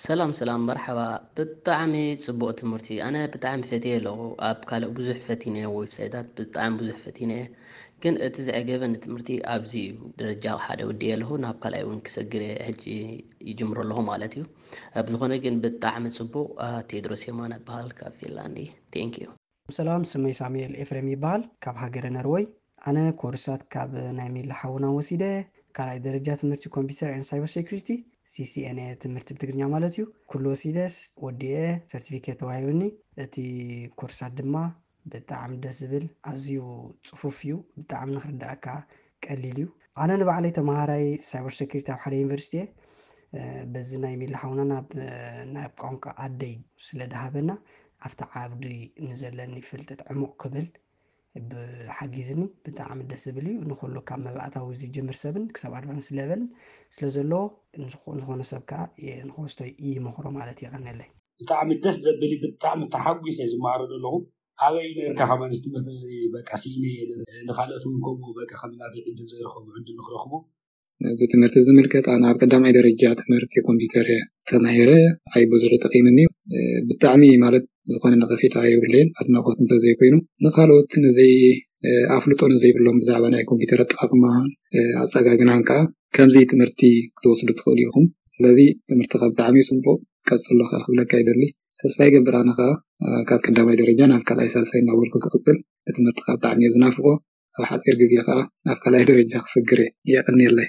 ሰላም ሰላም መርሓባ ብጣዕሚ ጽቡቅ ትምህርቲ ኣነ ብጣዕሚ ፈትየ ኣለኩ ኣብ ካልእ ብዙሕ ፈቲነ ወብሳይታት ብጣዕሚ ብዙሕ ፈቲነ እየ ግን እቲ ዘዕገበኒ ትምህርቲ ኣብዚ እዩ ደረጃ ሓደ ወዲ ኣለኩ ናብ ካልኣይ እውን ክሰግር እየ ሕጂ ይጅምሮ ኣለኩ ማለት እዩ ኣብ ዝኮነ ግን ብጣዕሚ ጽቡቅ ቴድሮስ የማነ በሃል ካብ ፊንላንድ ቴንክ ዩ ሰላም ሰላም ስመይ ሳሙኤል ኤፍሬም ይበሃል ካብ ሃገረ ነርወይ ኣነ ኮርሳት ካብ ናይ ሚሊ ሓውና ወሲደ ካልኣይ ደረጃ ትምህርቲ ኮምፒተር ኤንድ ሳይበር ሴኩሪቲ CCNA ትምህርቲ ብትግርኛ ማለት እዩ ኩሉ ወሲደስ ወዲኤ ሰርቲፊኬት ተዋሂብኒ እቲ ኮርሳት ድማ ብጣዕሚ ደስ ዝብል ኣዝዩ ጽፉፍ እዩ ብጣዕሚ ንኽርደኣካ ቀሊል እዩ ኣነ ንባዕለይ ተምሃራይ ሳይበር ሴኩሪቲ ኣብ ሓደ ዩኒቨርሲቲ እየ በዚ ናይ ሚሊ ሓውና ናብ ናብ ቋንቋ ኣደይ ስለ ድሃበና ኣብቲ ዓብዲ ንዘለኒ ፍልጠት ዕሙቕ ክብል ብሓጊዝኒ ብጣዕሚ ደስ ዝብል እዩ ንኩሉ ካብ መባእታዊ ዝጅምር ሰብን ክሳብ ኣድቫንስ ሌቨልን ስለ ዘለዎ ንዝኾነ ሰብ ከዓ ንክወስዶ ይመኽሮ ማለት የቐነለይ ብጣዕሚ ደስ ዘብል ብጣዕሚ ተሓጒሰ ዝመሃሮ ዘለኹ ኣበይ ነርካ ከማን እዚ ትምህርቲ እዚ በቃ ሲኢነየ ነረ ንካልኦት ውን ከምኡ በቃ ከም ናተይ ዕድል ዘይረከቡ ዕድል ንክረክቡ። ነዚ ትምህርቲ ዝምልከት ኣነ ኣብ ቀዳማይ ደረጃ ትምህርቲ ኮምፒተር እየ ተማሂረ ኣይ ብዙሕ ጠቂምኒ እዩ ብጣዕሚ ማለት ዝኾነ ነቐፌታ የብለይን ኣድናቆት እንተዘይኮይኑ ንካልኦት ንዘይ ኣፍልጦ ንዘይብሎም ብዛዕባ ናይ ኮምፒተር ኣጠቃቅማ ኣፀጋግናን ከዓ ከምዚ ትምህርቲ ክትወስዱ ትኽእሉ ኢኹም ስለዚ ትምህርትኻ ብጣዕሚ እዩ ፅቡቅ ቀፅሎ ከዓ ክብለካ ይደሊ ተስፋ ይገብር ኣነ ከኣ ካብ ቀዳማይ ደረጃ ናብ ካልኣይ ሳልሳይ እናበልኩ ክቕጽል ንትምህርትኻ ብጣዕሚ እየ ዝናፍቖ ኣብ ሓጺር ግዜ ከኣ ናብ ካልኣይ ደረጃ ክስግር እየ የቐንየለይ።